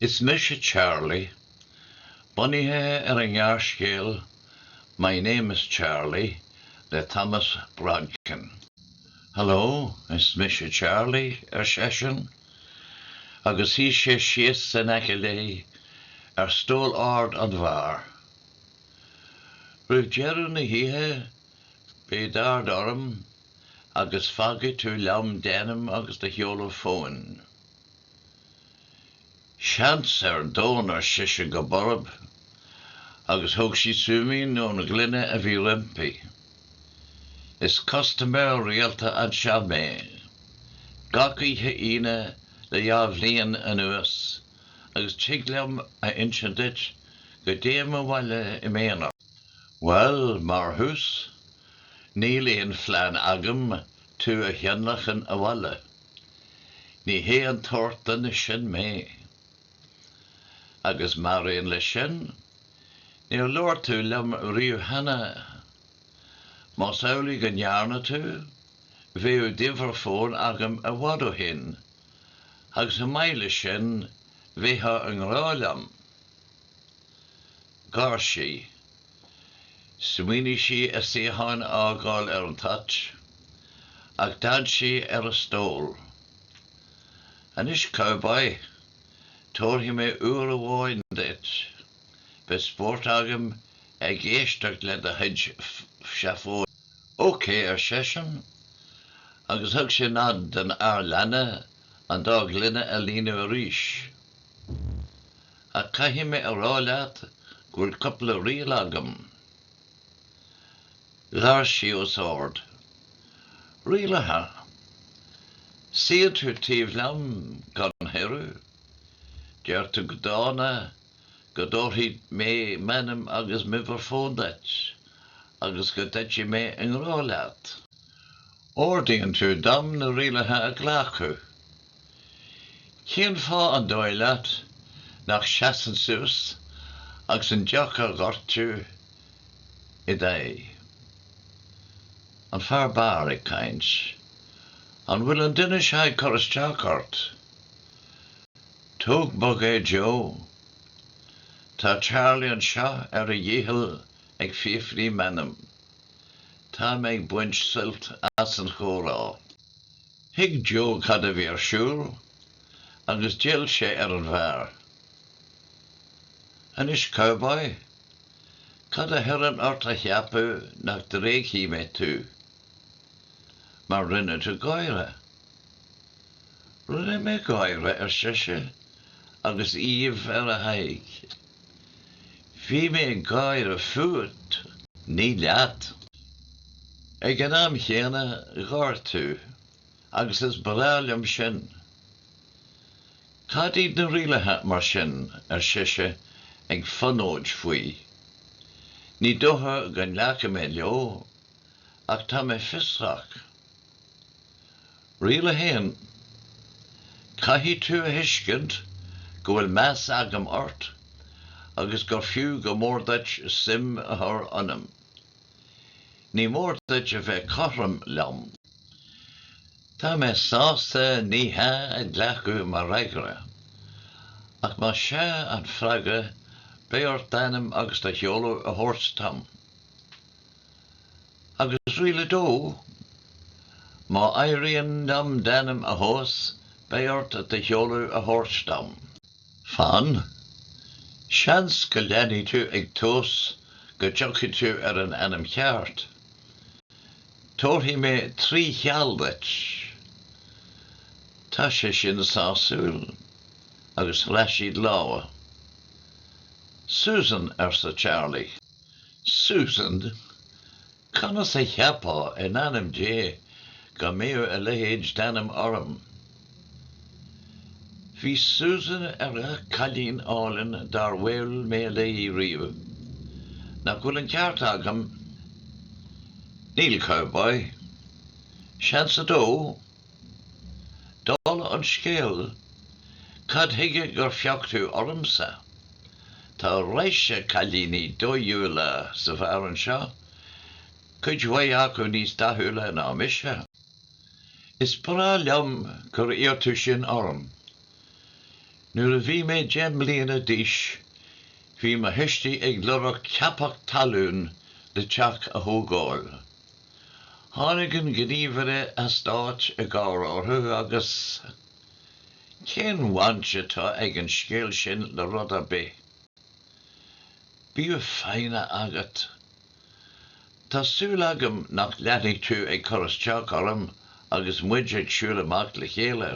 Is Mise Charlie, bunaithe ar an ngearrscéal My Name is Charlie le Thomas Brodkin. Hello, is mise Charlie, ar seisean, agus shuigh sé síos in aice léi ar stól ard an bheáir. Roimh dheireadh na hoíche, beidh d'aird orm agus fágfaidh tú liom d'ainm agus do sheoladh fóin. Seans ar domhan, ar sise go borb, agus thóg sí súimín ón ghloine a bhí roimpi. Is custaiméir rialta anseo mé. Gach oíche Aoine le dhá bhliain anuas, agus tig liom a insint duit go dtéim abhaile i m'aonar. Bhuel, mar thús, níl aon phlean agam tú a thionlacan abhaile. Ní hé an tsórt duine sin mé. Agus mar aon leis sin, níor labhair tú liom riamh cheana. Más amhlaidh go ndearna tú, bheadh d'uimhir fóin agam i bhfad ó shin, agus chomh maith leis sin, bheifeá i ngrá liom. Gháir sí. Smaoinigh sí a suíochán a fhágáil ar an toirt, ach d'fhan sí ar a stól. Anois, cowboy, tabharfaidh mé uair amháin duit. Beidh spórt agam ag éisteacht le do chuid seafóide. OK, ar seisean, agus thug sé nod don fhear leanna an dá ghloine a líonadh arís. Ach caithfidh mé a rá leat go bhfuil cupla riail agam. Gháir sí os ard. Rialacha? Suíonn tú taobh liom gan chuireadh? Deir tú go dána go dtabharfaidh mé m'ainm agus m'uimhir fón duit agus go dtitfidh mé i ngrá leat. Ordaíonn tú dom na rialacha a ghlacadh. Cén fáth an dóigh leat nach seasfainn suas agus an deoch a dhoirteadh i d'aghaidh? An fear beáir ag caint. An bhfuil an duine seo ag cur isteach ort? Tóg bog é Joe. Tá Charlie anseo ar a dhícheall ag fiafraí m'ainm. Tá mé ag baint suilt as an chomhrá. Thuig Jo cad a bhí ar siúl agus d'fhill sé ar an bhfear. Anois, cowboy? Cad a thugann ort a cheapadh nach dtréigfidh mé tú? Mar rinne tú gáire. Rinne mé gáire, ar sise, agus aoibh ar a haghaidh. Bhí mé ag gáire fút, ní leat. Ag an am chéanna, gháir tú, agus is breá liom sin. Cad iad na rialaithe, mar sin? ar sise, ag fonóid faoi. Ní dócha go nglacfaidh mé leo, ach tá mé fiosrach. Riail 1, Caithfidh tú a thuiscint go bhfuil meas agam ort agus gur fiú go mór duit suim a chur ionam. Ní mór duit a bheith cothrom liom. Tá mé sásta 'ní hea' a ghlacadh mar fhreagra, ach más 'sea' an freagra beidh ort d'ainm agus do sheoladh a thabhairt dom. Agus riail a dó? Má éiríonn liom d'ainm a thomhas, beidh ort do sheoladh a thabhairt dom. Fan. Seans go leanfaidh tú ag tomhas go dtiocfaidh tú ar an ainm cheart. Tabharfaidh mé trí sheal duit. Tá sé sin sásúil? Agus chroith siad lámha. Susan, arsa Charlie. Susan, Conas a cheapfá, in ainm Dé, go mbeadh a leithéid d'ainm orm? Bhí Susan ar gach cailín álainn dár bhuail mé léi riamh. Nach bhfuil an ceart agam? Níl, cowboy. Seans a dó? Dála an scéil, cad chuige gur phioc tú ormsa? Tá raidhse cailíní dóighiúla sa bheár anseo, cuid mhaith acu níos dathúla ná mise. Is breá liom gur iarr tú sin orm. Nuair a bhí mé deich mbliana d'aois, bhí mo thuistí ag lorg ceapach talún le teach a thógáil. Tháinig an gníomhaire eastáit i gcabhair orthu agus, 'Cén bhaint atá ag an scéal sin le rud ar bith? Bíodh foighne agat. Tá súil agam nach leanfaidh tú ag cur isteach orm agus muid ag siúl amach le chéile.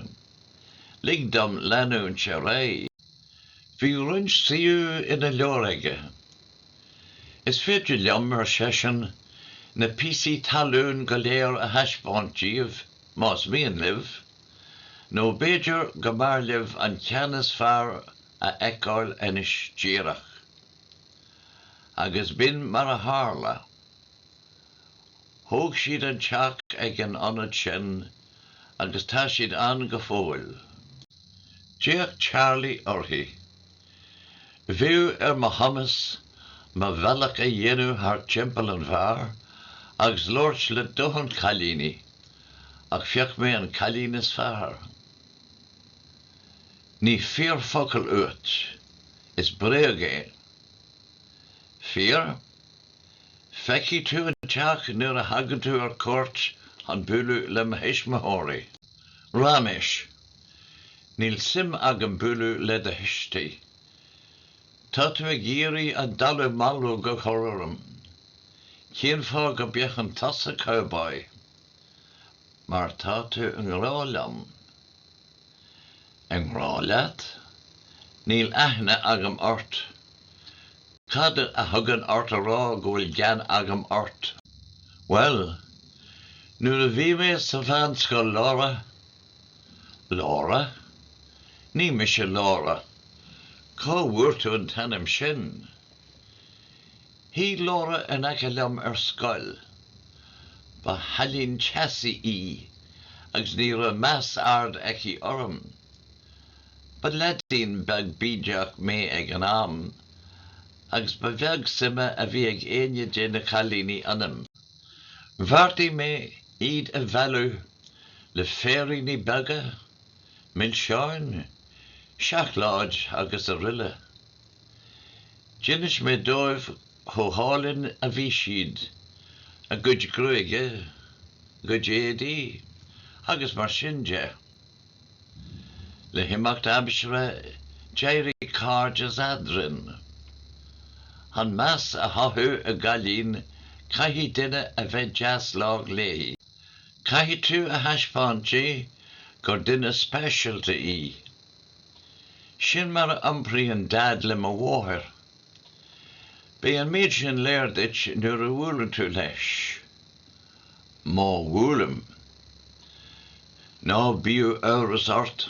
Lig dom leanúint ar aghaidh. Bhí roinnt suíomh ina leabhar aige. Is féidir liom, ar seisean, na píosaí talún go léir a thaispeáint díbh, más mian libh, nó b'fhéidir go mb'fhearr libh an ceann is fearr a fheiceáil anois díreach. Agus b'in mar a tharla. Thóg siad an teach ag an ionad sin, agus tá siad ann go fóill. D'fhéach Charlie uirthi. Bhí ar mo chumas mo bhealach a dhéanamh thar timpeall an bheáir agus labhairt le dóthain cailíní, ach phioc mé an cailín is fearr. Ní fíor focal uait. Is bréag é. Fíor? Feicfidh tú an teach nuair a thagann tú ar cuairt chun bualadh le mo thuismitheoirí. Ráiméis. Níl suim agam bualadh le do thuistí. Tá tú ag iarraidh an dallamullóg a chur orm. Cén fáth go bé ach an tusa cowboy? Mar tá tú i ngrá liom. I ngrá leat? Níl aithne agam ort. Cad a thugann ort a rá go bhfuil gean agam ort? Bhuel, nuair a bhí mé sa bhunscoil, Laura, Laura? Ní mise Laura. Cá bhfuair tú an t-ainm sin? Shuigh Laura in aice liom ar scoil. Ba chailín teasaí í agus ní raibh meas ard aici orm. Ba leaidín beag bídeach mé ag an am agus ba bheag suime a bhí ag éinne de na cailíní ionam. Bheartaigh mé iad a mhealladh. le féiríní beaga, milseáin, seacláid agus aroile. D'inis mé dóibh chomh hálainn a bhí siad, a gcuid gruaige, a gcuid éadaí agus mar sin de. Le himeacht aimsire d'éirigh cairdeas eadrainn. Chun meas a chothú i gcailín caithfidh duine a bheith deas lách léi. Caithfidh tú a thaispeáint di gur duine speisialta í. Sin mar a iompraíonn Daid le mo mháthair. Beidh an méid sin léir duit nuair a bhuaileann tú leis. Má bhuailim. Ná bíodh amhras ort.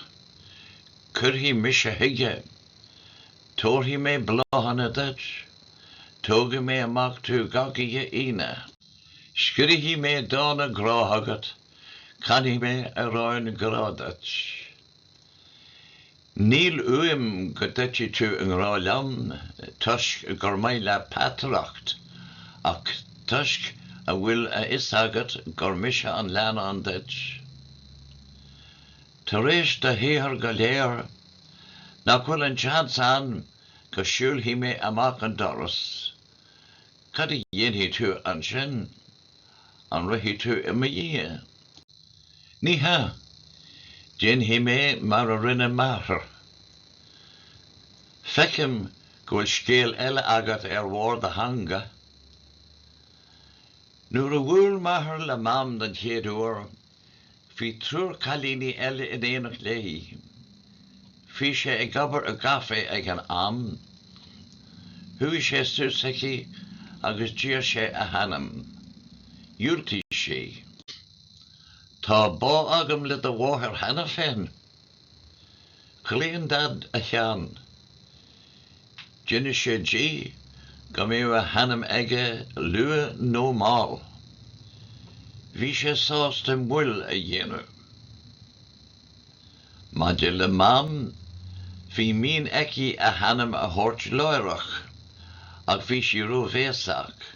Cuirfidh mise chuige. Tabharfaidh mé bláthanna duit. Tógfaidh mé amach tú gach oíche Aoine. Scríobhfaidh mé dána grá agat, canfaidh mé amhráin grá duit. Níl uaim go dtitfidh tú i ngrá liom toisc gur maith leat peataireacht, ach toisc a bhfuil a fhios agat gur mise an leannán duit. Tar éis do shaothair go léir, nach bhfuil an seans ann go siúlfaidh mé amach an doras? Cad a dhéanfaidh tú ansin? An rithfidh tú i mo dhiaidh? Ní hea! Déanfaidh mé mar a rinne m'athair. Feicim go bhfuil scéal eile agat ar bharr do theanga. Nuair a bhuail m'athair le Mam den chéad uair, Bhí triúr cailíní eile in éineacht léi. Bhí sé ag obair i gcaifé ag an am. Chuaigh sé suas chuici agus d'iarr sé a hainm. Dhiúltaigh sí. Tá bá agam le do mháthair cheana féin, Chlaon Daid a cheann. D'inis sé di go mbeadh a hainm aige luath nó mall. Bhí sé sásta moill a dhéanamh. Maidir le Mam, bhí mian aici a hainm a thabhairt láithreach, ach bhí sí ró-bhéasach.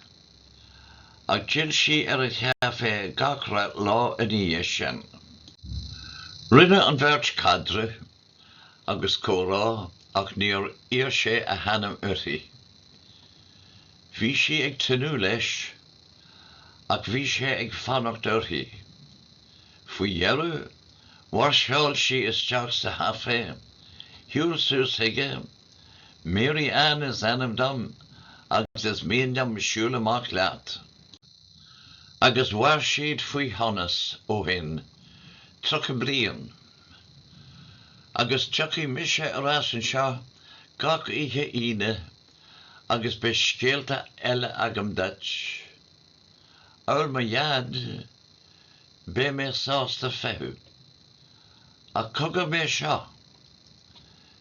Ach d'fhill sí ar an chaifé gach re lá ina dhiaidh sin. Rinne an bheirt caidreamh agus comhrá ach níor iarr sé a hainm uirthi. Bhí sí ag tnúth leis, ach bhí sé ag fanacht uirthi. Faoi dheireadh, mháirseáil sí isteach sa chaifé, shiúil suas chuige, Mary Ann is ainm dom agus is mian dom siúl amach leat. Agus mhair siad faoi shonas ó shin, tríocha bliain. Agus tiocfaidh mise ar ais anseo gach oíche Aoine agus beidh scéalta eile agam duit. Amhail mo dhaid, beidh mé sásta feitheamh. Ach cogair mé seo.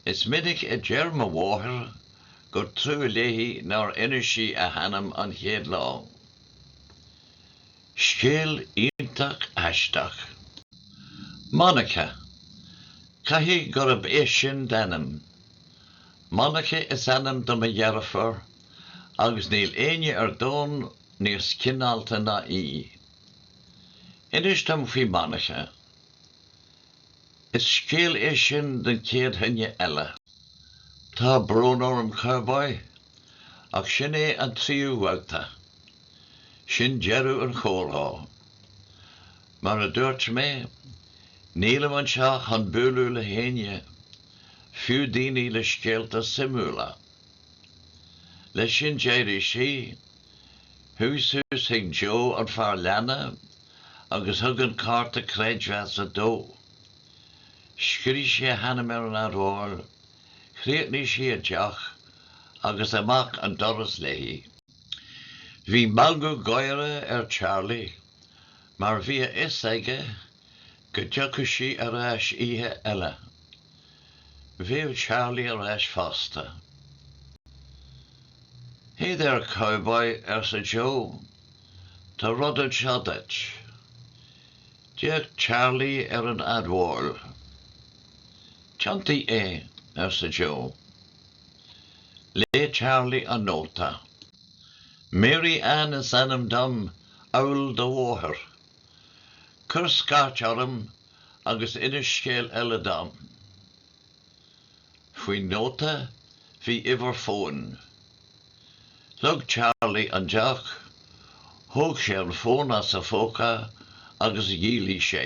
Is minic a deir mo mháthair gur trua léi nár inis sí a hainm an chéad lá. Scéal iontach aisteach. Monica! Caithfidh gurb é sin d'ainm. Monica is ainm do mo dheirfiúr agus níl éinne ar domhan níos cineálta ná í. Inis dom faoi Monica. Is scéal é sin don chéad duine eile. Tá brón orm, Cowboy, ach sin é an tríú babhta. Sin deireadh an chomhrá. Mar a dúirt mé, nílim anseo chun bualadh le héinne, fiú daoine le scéalta suimiúla. Leis sin d'éirigh sí, chuaigh suas chuig Joe an fear leanna, agus thug an cárta creidmheasa dó. Scrígh sé a hainm ar an admháil, chríochnaigh sí a deoch agus amach an doras léi. Bhí meangadh gáire ar Charlie mar bhí a fhios aige go dtiocfadh sí ar ais oíche eile. Bheadh Charlie ar ais fosta. ‘Hey there, cowboy, arsa Joe. Tá rud anseo duit. D'fhéach Charlie ar an admháil. Tiontaigh é, arsa Joe. Léigh Charlie an nóta. Mary Anne is ainm dom, amhail do mháthair. Cuir scairt orm agus inis scéal eile dom. Faoin nóta bhí uimhir fóin. Leag Charlie an deoch, thóg sé an fón as a phóca agus dhiailigh sé.